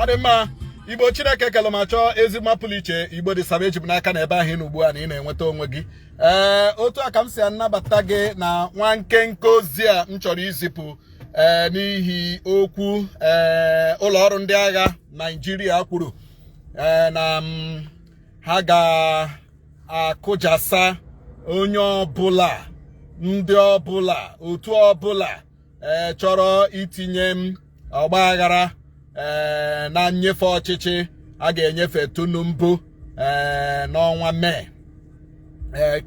ọ dị mma igbo chineke kelụ ma chọọ ezi mma pụrụ iche igbo dị saba eji m n'aka na ebe ahụ ị nọ ugbu a na ị na-enweta onwe gị ee otu a ka m si anabata gị na nwa nkenke ozi a m chọrọ izipụ ee n'ihi okwu ee ụlọ ọrụ ndị agha naijiria kwuru ee na ha ga akụjasa onye ọbụla ndị ọbụla otu ọbụla eh, chọrọ itinye mm ọgba aghara eh, na nnyefe ọchịchị a ga-enyefe Tinubu eh, n'ọnwa Mee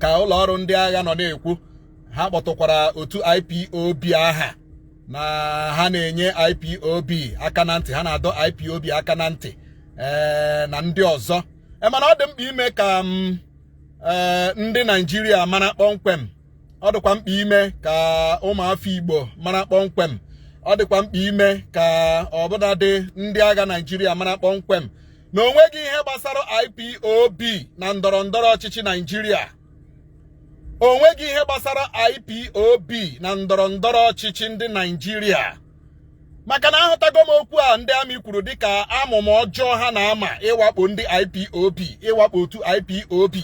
ka ụlọ ọrụ ndị agha nọ na-ekwu ha kpọtụkwara otu IPOB aha na ha na-enye IPOB aka na ntị ha na-adọ IPOB aka na ntị na ndị ọzọ e mana ọ dị mkpa ime ka mm, e, ndị naijiria mara kpọmkwem ọ dịkwa mkpa ime ka ụmụafọ igbo mara kpọmkwem ọ dịkwa mkpa ime ka ọbụladị ndị agha naijiria mara kpọmkwem na onweghị ihe gbasara ipob na ndọrọ ndọrọ ọchịchị naijiria onweghị ihe gbasara ipob na ndọrọ ndọrọ ọchịchị ndị naijiria maka na ahụtago m okwu a ndị amị kwuru dịka amụma ọjọọ ha na-ama ịwakpo ndị IPOB ịwakpo otu IPOB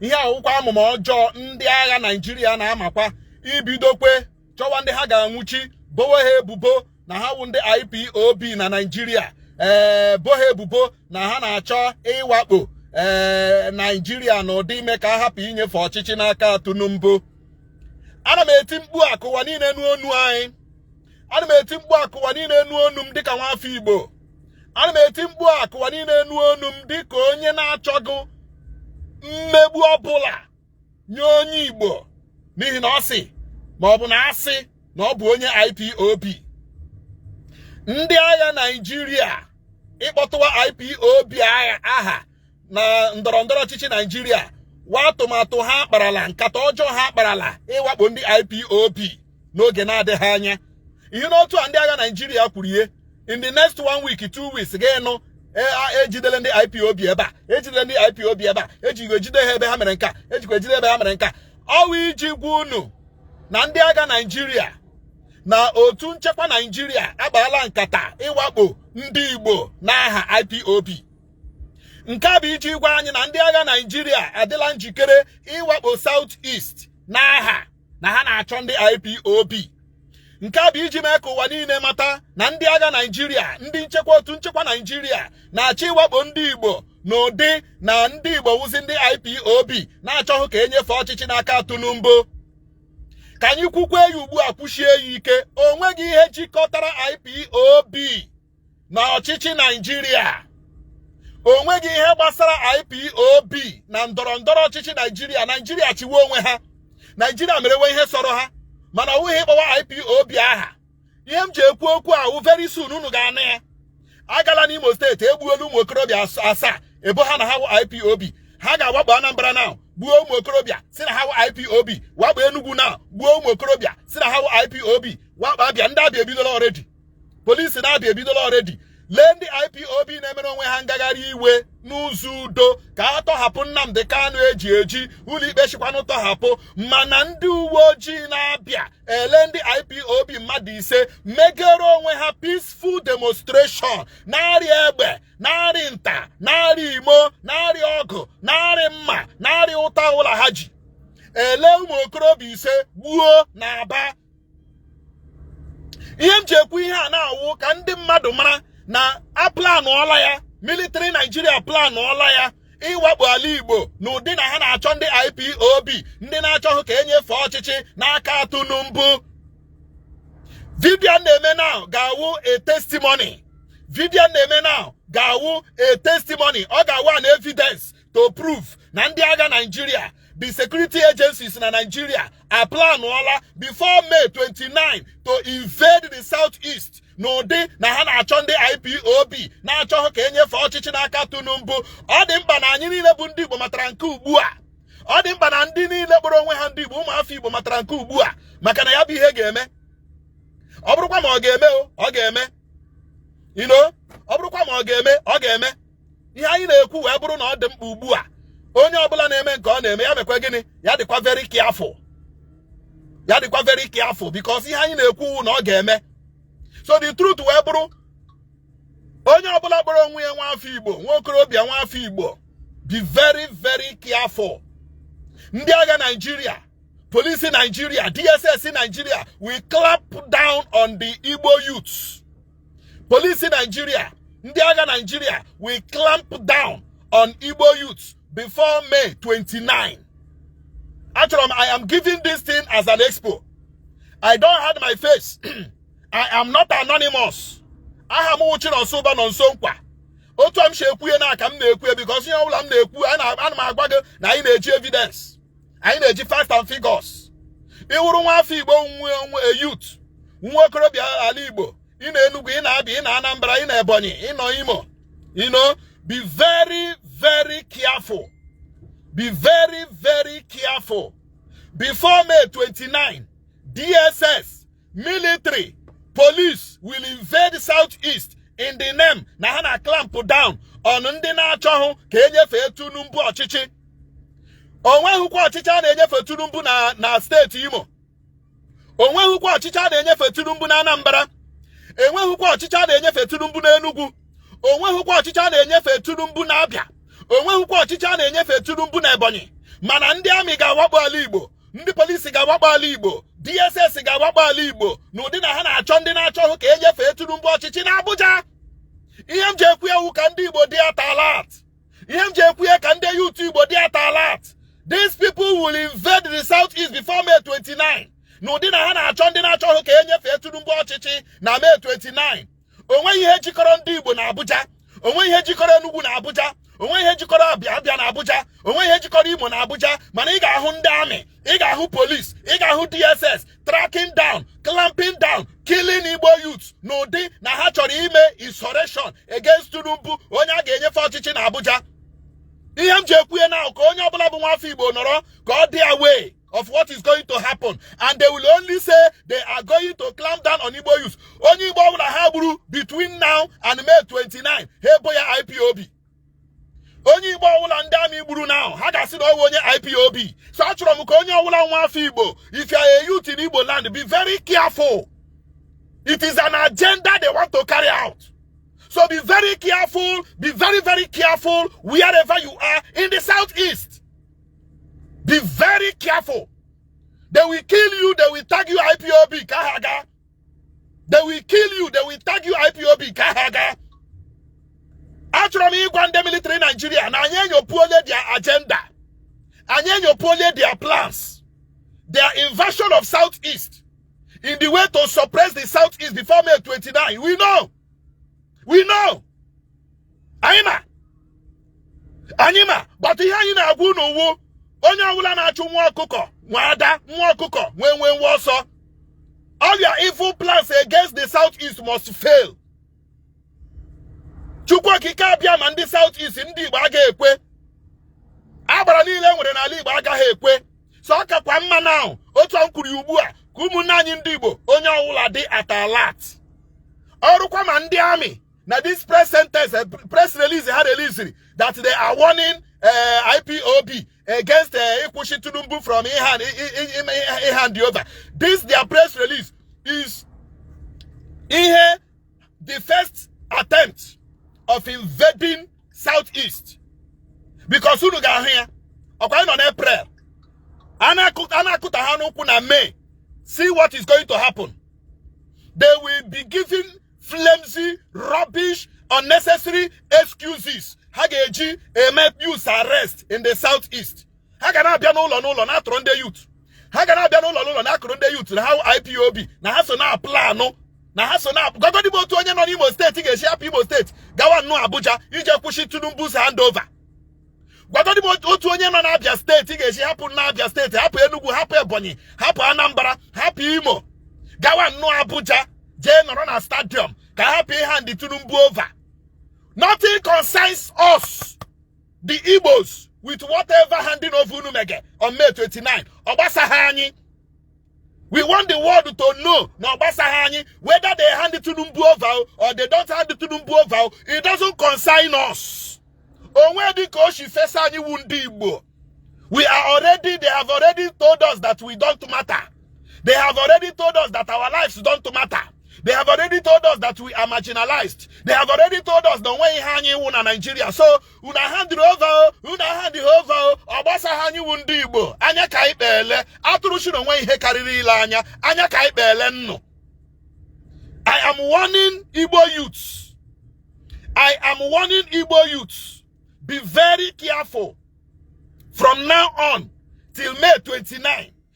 ihe a wụkwa amụma ọjọọ ndị agha Naịjirịa na-amakwa ibidokwe chọwa ndị ha ga-anwụchi bowe ha ebubo na ha wụ ndị IPOB na Naịjirịa ee eh, bo ha ebubo na ha na-achọ ịwakpo ee eh, Naịjirịa n'ụdị ime ka a hapụ inyefe ọchịchị n'aka Tinubu ana m eti mkpu a ka ụwa niile nụ onu anyị ana m eti mkpu a ka ụwa niile nụ onu m dịka nwafọ igbo ana m eti mkpu a ka ụwa niile nụ onu m dịka onye na-achọghị mmegbu ọbụla nye onye igbo n'ihi na ọ sị ma ọ bụ na a sị na ọ bụ onye IPOB ndị agha Naịjirịa ịkpọtụwa IPOB aha na ndọrọ ndọrọ ọchịchị naijiria wụ atụmatụ ha kparala nkata ọjọọ ha kparala ịwakpo ndị IPOB n'oge na-adịghị anya ihe n'otu a ndị agha naijiria kwuru ihe in the next one week two weeks ga-anụ ejidele e ndị IPOB ebe a ejidele ndị IPOB ebe a ejikwa ejide ha ebe ha mere nke a ejikwa ejide ebe ha mere nke a ọ wụ iji gwa unu na ndị agha naijiria na otu nchekwa naijiria akparala nkata ịwakpo ndị Igbo n'aha IPOB nke a bụ iji gwa anyị na ndị agha naijiria adịla njikere ịwakpo South East n'aha na ha na-achọ ndị IPOB nke a bụ iji mee ka ụwa niile mata na ndị agha naijiria ndị nchekwa otu nchekwa naijiria na-achọ ịwakpo ndị igbo n'ụdị na ndị igbo wụzi ndị ipob na-achọghị ka enyefe ọchịchị n'aka tinubu ka anyị kwukwa ya ugbu a kwusie ya ike o nweghị ihe jikọtara ipob na ọchịchị naijiria o nweghị ihe gbasara ipob na ndọrọ ndọrọ ọchịchị naijiria naijiria chịwa onwe ha naijiria merewe ihe sọrọ ha mana ọ wụghị ịkpọwa ipob aha ihe m ji ekwu okwu a wụ very soon unu ga-anụ ya a gaala n'imo steeti egbuola ụmụ okorobịa asaa e bo ha na ha wụ ipob ha ga-awakpo anambra now gbuo ụmụ okorobịa sị na ha wụ ipob wakpo enugwu now gbuo ụmụ okorobịa sị na ha wụ ipob wakpo abịa ndị abịa ebidola already polisi na Abịa ebidola already lee ndị IPOB na-emere onwe ha ngagharị iwe n'ụzọ udo ka a tọhapụ Nnamdi Kanu e ji eji ụlọikpe sịkwanụ tọhapụ mana ndị uwe ojii na Abịa elee ndị IPOB mmadụ ise megere onwe ha peaceful demonstration narị egbe narị nta narị imo narị ọgụ narị mma narị ụta ụlọ ha ji elee ụmụ okorobịa ise gbuo na Aba ihe m ji ekwu ihe a now wụ ka ndị mmadụ mara na a planụọla ya military Nigeria aplanụọla ya ịwakpo ala Igbo n'ụdị na ha na-achọ ndị IPOB ndị na-achọhụ ka enyefe ọchịchị n'aka Tinubu vidio a m na-eme now ga-awụ a testimony vidio a m na-eme now ga-awụ a testimony ọ ga-awụ an evidence to prove na ndị agha Nigeria the security agencies na Nigeria aplanụọla before May 29 to invade the southeast n'ụdị na ha na-achọ ndị IPOB na-achọhụ ka enyefe ọchịchị n'aka Tinubu ọ dị mkpa na anyị niile bụ ndị Igbo matara nke ugbu a ọ dị mkpa na ndị niile kpọrọ onwe ha ndị Igbo ụmụafọ Igbo matara nke ugbu a maka na ya bụ ihe ga-eme ọ bụrụkwa ma ọ ga-eme ọ ga-eme you know ọ bụrụkwa ma ọ ga-eme ọ ga-eme ihe anyị na-ekwu wee bụrụ na ọ dị mkpa ugbu a onye ọbụla na-eme nke ọ na-eme ya mekwa gịnị ya dịkwa very careful ya dịkwa very careful because ihe anyị na-ekwu now ga-eme so the truth wee bụrụ onye ọbụla kpọrọ onwe ya nwa afọ igbo nwa okorobịa nwa afọ igbo be very very careful ndị agha naijiria polisi naijiria dss naijiria will clamp down on the igbo youths polisi naijiria ndị agha naijiria will clamp down on igbo youth before may 29 achọrọ m i am giving this thing as an expo i don't hide my face i am not anonymous aha m wụ chinọnsọ ụba nọnsọ nkwa otu a m si ekwu ihe naa ka m na-ekwu ya because ihe ọbụla m na-ekwu ana m agwa gị na anyị na-eji evidence anyị na-eji facts and figures ị wụrụ nwa afọ igbo nwe onwe a youth nwa okorobịa ala igbo ị nọ enugwu ị nọ abịa ị nọ anambra ị nọ ebonyi ị nọ imo you know be very very careful be very very careful before may 29 dss military police will invade south east in the name na ha na clamp down on ndị na-achọhụ ka e nyefee Tinubu ọchịchị onwehukwa ọchịchị a na-enyefe Tinubu na na steeti Imo onwehukwa ọchịchị a na-enyefe Tinubu na Anambra enwehukwa ọchịchị a na-enyefe Tinubu na Enugu onwehukwa ọchịchị a na-enyefe Tinubu na Abịa onwehukwa ọchịchị a na-enyefe Tinubu na Ebonyi mana ndị amị ga-awakpo ala Igbo ndị polisi ga-awakpo ala igbo dss ga-awakpo ala igbo na ụdị na ha na-achọ ndị na-achọhụ ka e nyefee tinubu ọchịchị na abuja ihe m ji ekwu ya wụ ka ndị igbo dị at alert ihe m ji ekwu ya ka ndị youth igbo dị at alert these people will invade the south east before may 29 na ụdị na ha na-achọ ndị na-achọhụ ka e nyefee tinubu ọchịchị na may 29 onweghị ihe jikọrọ ndị Igbo na Abuja onweghị ihe jikọrọ Enugu na Abuja onweghị ihe jikọrọ Abịa Abịa na Abuja onweghị ihe jikọrọ Imo na Abuja mana ị ga-ahụ ndị amị ị ga-ahụ polis ị ga-ahụ DSS tracking down clamping down killing Igbo youth n'ụdị na ha chọrọ ime insurrection against Tinubu onye a ga-enyefe ọchịchị na Abuja ihe m ji ekwu ihe naa wụ ka onye ọbụla bụ nwafọ Igbo nọrọ ka ọ dị aware of what is going to happen and they will only say they are going to clamp down on Igbo youth onye Igbo ọbụla ha gburu between now and May 29 ha ebo ya IPOB onye Igbo ọbụla ndị amị gburu now ha ga-asị na ọ wụ onye IPOB so achọrọ m ka onye ọbụla nwa afọ Igbo if you are a youth in Igbo land be very careful it is an agenda they want to carry out so be very careful be very very careful wherever you are in the southeast be very careful they will kill you they will tag you ipob ka ha gaa they will kill you they will tag you ipob ka ha gaa achọrọ m ịgwa ndị military Nigeria na anyị enyopuole their agenda anyị enyopuole their plans their invasion of southeast in the way to suppress the southeast before May 29 we know we know anyị ma anyị ma but ihe anyị na-agwa unu wụ onye ọbụla na-achụ nwa ọkụkọ nwe ada nwa ọkụkọ nwe nwenwe ọsọ all your evil plans against the south east must fail chukwu okike abịama ndị south east ndị igbo agaghị ekwe agbara niile e nwere n'ala igbo agaghị ekwe so ọ kakwa mma now otu m kwuru ya ugbu a ka ụmụnne anyị ndị Igbo onye ọwụla dị at alert ọrụkwa ma ndị army na this press sentence eh, press release ha releasiri that they are warning eh, IPOB against eh, ịkwụsị Tinubu from ịhand over this their press release is ihe the first attempt of invading southeast because unu ga-ahụ ya ọkwa a nọ n'April a na-akụta ha n'ụkwụ na May see what is going to happen they will be giving flimsy rubbish unnecessary excuses ha ga-eji eme youth arrest in the southeast ha ga na-abịa n'ụlọ n'ụlọ na-atụrụ ndị youth ha ga na-abịa n'ụlọ n'ụlọ na-atụrụ ndị youth na ha wụ IPOB na ha so na-aplanụ na ha so na gwagodi m otu onye nọ n'Imo steeti ga-esi hapụ Imo steeti gawa nnọọ Abuja ije kwụsị Tinubu's handover gwagodi m otu onye nọ n'Abia steeti ga-esi hapụ n'Abia steeti hapụ Enugu hapụ Ebonyi hapụ Anambra hapụ Imo gawa nnọọ Abuja jee nọrọ na stadium ka a hapụ ịhand Tinubu over nothing concerns us the Igbos with whatever handing over unu mege on May 29 ọ gbasaghị anyị we want the world to know na ọ gbasaghị anyị whether they hand Tinubu over or they don't hand Tinubu over it doesn't concern us o nwedị ka o si fesa anyị wu ndị Igbo we are already they have already told us that we don't matter They have already told us that our lives don't matter. They have already told us that we are marginalized. They have already told us the way hanging one in Nigeria. So, una hand over, una hand over, obasa hanyi wundi igbo. Anya ka ikpele, aturu shi no ihe kariri ile anya, anya ka ikpele nno. I am warning Igbo youths. I am warning Igbo youths. Be very careful from now on till May 29.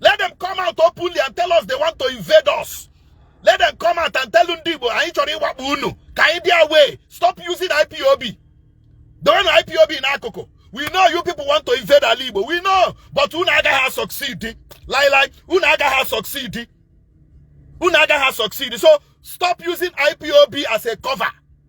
let them come out openly and tell us they want to invade us let them come out and tell ndị Igbo anyị chọrọ ịwakpo unu ka anyị dị aware stop using IPOB dowenụ IPOB n'akụkụ we know you people want to invade ala Igbo we know but unu agaghị succeed lailai unu agaghị succeed unu agaghị succeed so stop using IPOB as a cover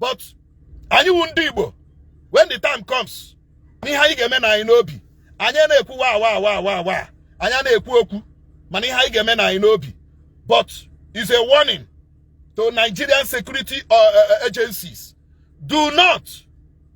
but anyị wu ndị Igbo when the time comes na ihe anyị ga-eme nọ anyị n'obi anyị ana-ekwu wa wa wa wa wa anyị ana-ekwu okwu mana ihe anyị ga-eme nọ anyị n'obi but is a warning to Nigerian security uh, uh, uh, agencies do not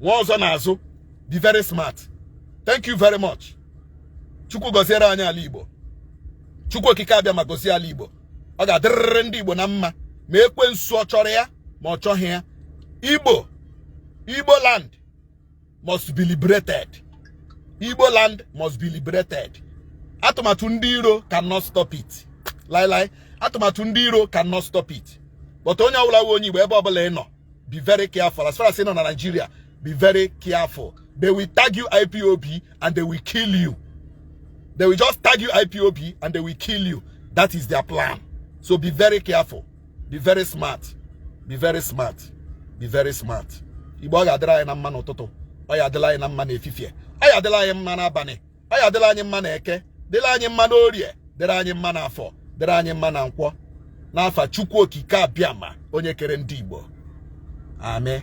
nwee ọzọ n'azụ be very smart thank you very much chukwu goziere anyị ala igbo chukwu okike abịama gozie ala igbo ọ ga-adịrịrị ndị igbo na mma ma ekwensu ọ chọrọ ya ma ọ chọghị ya igbo land must be liberated igbo land must be liberated atụmatụ ndị iro cannot stop it lailai atụmatụ ndị iro cannot stop it but onye ọwụla wụ onye igbo ebe ọbụla ị nọ be very careful as far as ị nọ na Nigeria be very careful they will tag you IPOB and they will kill you they will just tag you IPOB and they will kill you that is their plan so be very careful be very smart be very smart be very smart igbo ọ ga-adịrị anyị na mma n'ụtụtụ ọ ya adịla anyị na mma n'efifie ọ ya adịla anyị mma n'abalị ọ ya adịla anyị mma na eke dịrị anyị mma na orie dịrị anyị mma na afọ dịrị anyị mma na nkwọ n'afa chukwu okike abịama onye kere ndị igbo amen